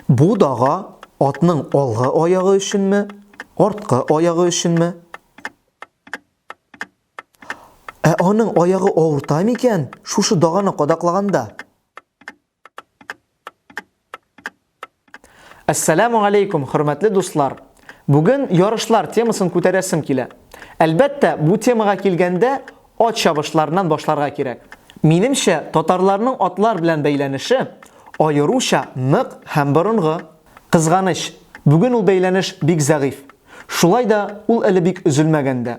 Бу дага атның алгы аягы өченме, арткы аягы өченме? Ә аның аягы авырта микән шушы даганы кадаклаганда? Әссәләмү алейкум, хөрмәтле дуслар! Бүген ярышлар темасын күтәрәсем килә. Әлбәттә, бу темага килгәндә, ат чабышларыннан башларга кирәк. Минемчә, татарларның атлар белән бәйләнеше аеруча нык һәм борынгы. Кызганыч, бүген ул бәйләнеш бик зәгыйфь. Шулай да ул әле бик өзелмәгән дә.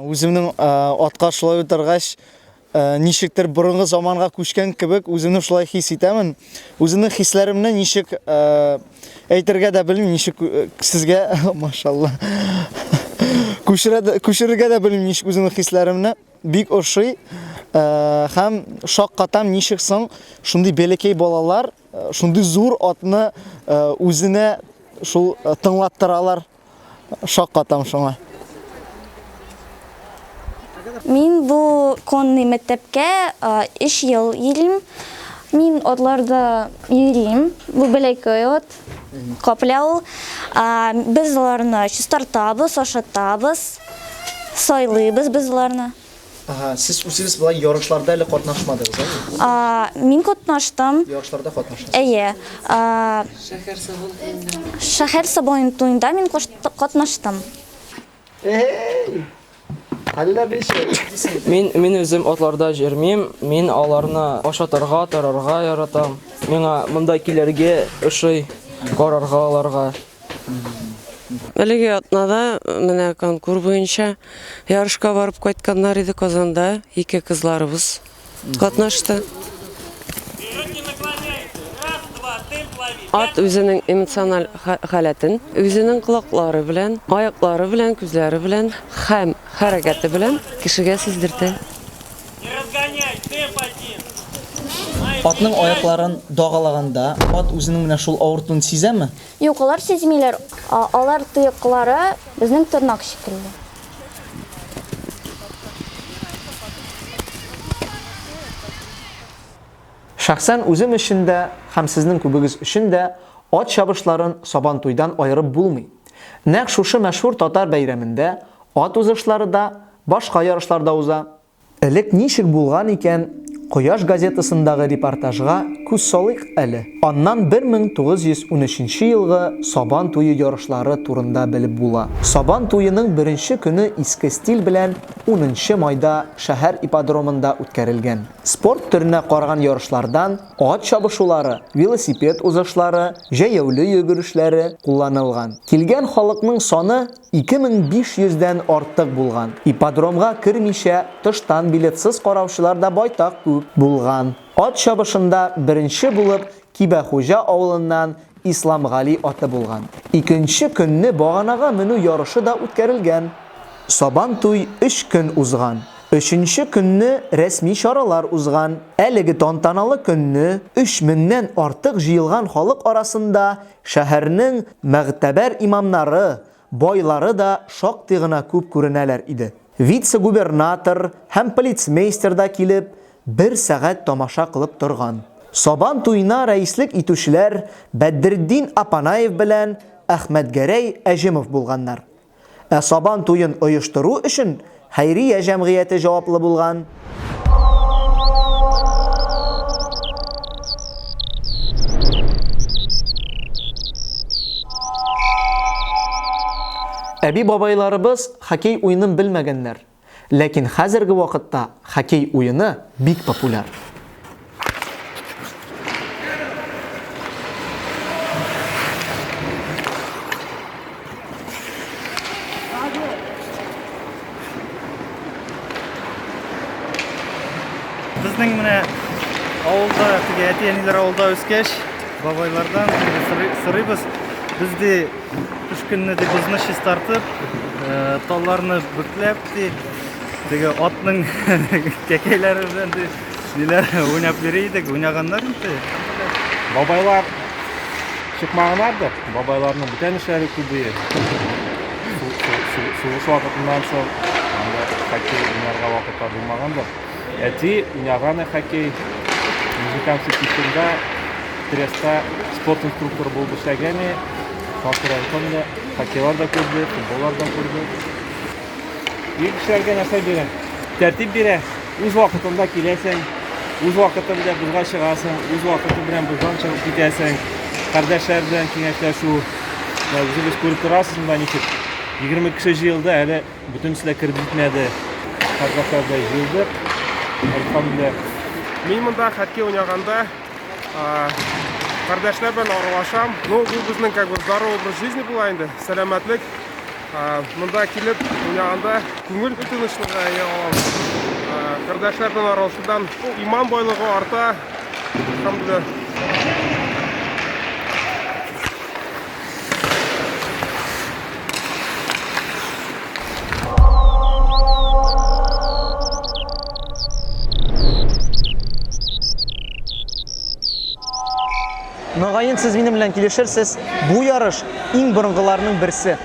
Үземнең э, атка шулай утыргач, э, ничектер борынгы заманга күчкән кебек үземне шулай хис итәмен. Үземнең хисләремне ничек э, әйтергә дә белмим, ничек сезгә, машалла. Күчерергә дә белмим ничек үземнең хисләремне. Бик ошый һәм шаккатам ничек соң шундый бәләкәй балалар шундый зур атны үзенә шул тыңлаттыралар. Шаккатам шуңа. Мин бу конный мәктәпкә 3 ел йөрим. Мин атларда йөрим. Бу бәләкәй ат. каплау. Без аларны чистартабыз, ашатабыз, сайлыйбыз без аларны. Ага, сез үзегез болай ярышларда әле катнашмадыгыз, әйе? Мин катнаштым. Ярышларда катнаштым. Әйе. Шәһәр сабан туенда. Шәһәр сабан туенда мин катнаштым. Эй! Әллә ничек? Мин мин үзем атларда җөрмим, мин аларны ашатырга, торырга яратам. Миңа монда килергә ошый, карарга аларга. Әлеге атнада менә конкур буенча ярышка барып кайтканнар иде Казанда ике кызларыбыз. катнашты. Ат үзенең эмоциональ халәтен, үзенең колаклары белән, аяклары белән, күзләре белән һәм хәрәкәте белән кешегә сиздертә. Атның аякларын дагалаганда ат үзенең менә шул авыртуны сизәме? Юк, алар сизмиләр. Алар тояклары безнең тырнак шикелле. Шәхсән үзем өчен дә һәм сезнең күбегез өчен дә ат чабышларын Сабантуйдан аерып булмый. Нәкъ шушы мәшһүр татар бәйрәмендә ат узышлары да, башка ярышлар да уза. Элек ничек булган икән, Кояш газетасындагы репортажга күз салыйк әле. Аннан 1913 елгы Сабан туе ярышлары турында белеп була. Сабан туеның беренче көне иске стиль белән унынчы майда шәһәр ипподромында үткәрелгән. Спорт төренә караган ярышлардан ат чабышулары, велосипед узышлары, җәяүле йөгерешләре кулланылган. Килгән халыкның саны 2500 дән артык булган. Ипподромга кермичә, тыштан билетсыз караучылар да байтак күп булган. Ат чабышында беренче булып Кибәхуҗа авылыннан Исламгали аты булган. Икенче көнне баганага менү ярышы да үткәрелгән. Сабантуй өч көн узган. Өченче көнне рәсми чаралар узган. Әлеге тантаналы көнне өч меңнән артык җыелган халык арасында Шәһәрнең мәгътәбәр имамнары, байлары да шактый гына күп күренәләр иде. Вице-губернатор һәм полицмейстер да килеп, бер сәгать тамаша кылып торган. Сабан туена рәислек итүчеләр Бәдретдин Апанаев белән Әхмәтгәрәй Әҗемов булганнар. Ә Сабан туен оештыру өчен хәйрия җәмгыяте җаваплы булган. Әби-бабайларыбыз хоккей уенын белмәгәннәр. Ләкин хәзерге вакытта хоккей уены бик популяр. Безнең менә авылда, әти-әниләр авылда үскәч, бабайлардан сырыбыз. Без Кыш көнне ди бозны чистартып, талларны бүкләп ди, теге атның кәкәйләре белән ди, ниләр уйнап йөри идек, уйнаганнар инде. Бабайлар чыкмаганнардыр, бабайларның бүтән эшләре күбее. Сугыш вакытыннан соң, анда кайту уйнарга вакытлар булмагандыр. Әти уйнаганы хоккей, музыкант чеклисында, Треста спорт инструкторы булып эшләгәне, Сасыр Антонда хоккейлар да күрде, футболлар да күрде. Ир кешеләргә нәрсә бирә? Тәртип бирә. Үз вакытында киләсең, үз вакытында бозга чыгасың, үз вакыты белән боздан чыгып китәсең. Кардәшләр белән киңәшләшү. Үзегез күреп торасыз монда ничек. 20 кеше җыелды, әле Бөтенесе дә кереп җитмәде. Кардәшләрдәй җыелдык. Әлхәмдүлилла. Мин монда хоккей уйнаганда кардәшләр белән аралашам. Ну, бу безнең как бы здоровый образ жизни була инде. Сәламәтлек. Монда килеп уйнаганда күңел тынычлыгы ия алам. Кардәшләр белән аралашудан иман байлыгы арта. Әлхәмдүлилла. Мөгаен, сез минем белән килешерсез, бу ярыш иң борынгыларның берсе.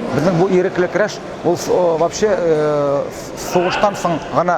Безнең бу ирекле көрәш ул вообще сугыштан соң гына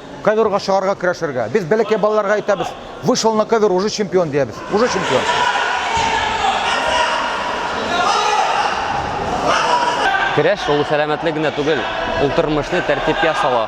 Ковёрга чыгарга көрәшергә. Без бәләкәй балаларга әйтәбез, вышел на ковёр, уже чемпион диябез. Уже чемпион. Көрәш ул сәламәтлек генә түгел, ул тормышны тәртипкә сала.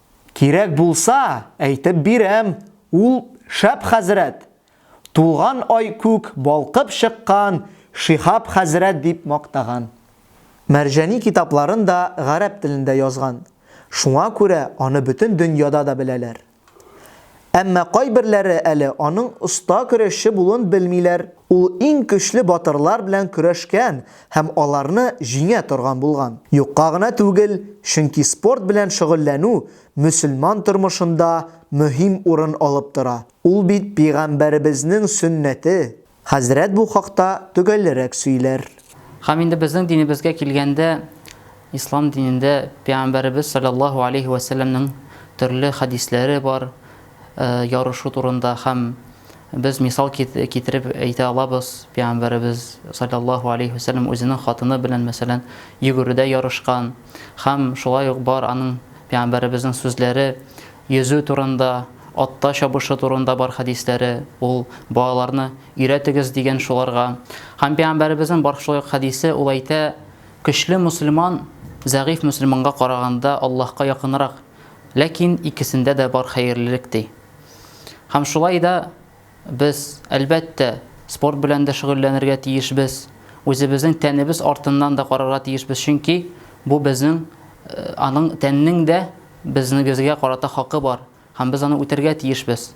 Кирәк булса, әйтеп бирәм, ул шәп хәзрәт! Тулган ай күк балкып чыккан Шиһап хәзрәт дип мактаган. Мәрҗани китапларын да гарәп телендә язган, шуңа күрә аны бөтен дөньяда да беләләр. Әмма кайберләре әле аның оста көрәшче булуын белмиләр. Ул иң көчле батырлар белән көрәшкән һәм аларны җиңә торган булган. Юкка гына түгел, чөнки спорт белән шөгыльләнү мөселман тормышында мөһим урын алып тора. Ул бит Пигамбәребезнең сөннәте. Хәзрәт бу хакта төгәллерәк сөйләр. Һәм инде безнең динебезгә килгәндә, ислам динендә Пәйгамбәребез салләллаһу алейһи вә сәлләмнең төрле хәдисләре бар ярышу турында һәм без мисал китереп әйтә алабыз, Пәйгамбәребез салләллаһу алейһи вә сәлләм үзенең хатыны белән, мәсәлән, йөгерүдә ярышкан һәм шулай ук бар аның Пәйгамбәребезнең сүзләре Йөзү турында, атта чабышу турында бар хәдисләре, ул, Балаларны өйрәтегез, дигән шуларга. Һәм Пәйгамбәребезнең бар шулай ук хәдисе, ул әйтә, Көчле мөселман зәгыйфь мөселманга караганда Аллаһка якынрак, ләкин икесендә дә бар хәерлелек, ди. Һәм шулай да. Без, әлбәттә, спорт белән дә шөгыльләнергә тиешбез, үзебезнең тәнебез артыннан да карарга тиешбез, чөнки бу безнең, аның, тәннең дә безнегезгә карата хакы бар һәм без аны үтәргә тиешбез.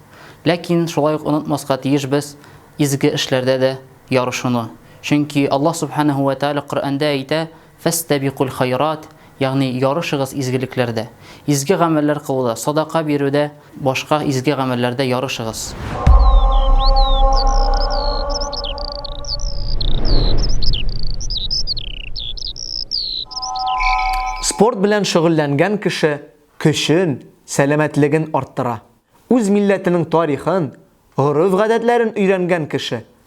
Ләкин шулай ук онытмаска тиешбез изге эшләрдә дә ярышуны, чөнки Аллаһ Сүбхәнәһү вә Тәгалә Коръәндә әйтә, Фәстәбикуль хайрат, ягъни ярышыгыз изгелекләрдә. Изге гамәлләр кылуда, садака бирүдә, башка изге гамәлләрдә ярышыгыз. Спорт белән шөгыльләнгән кеше көчен, сәламәтлеген арттыра. Үз милләтенең тарихын, гореф-гадәтләрен өйрәнгән кеше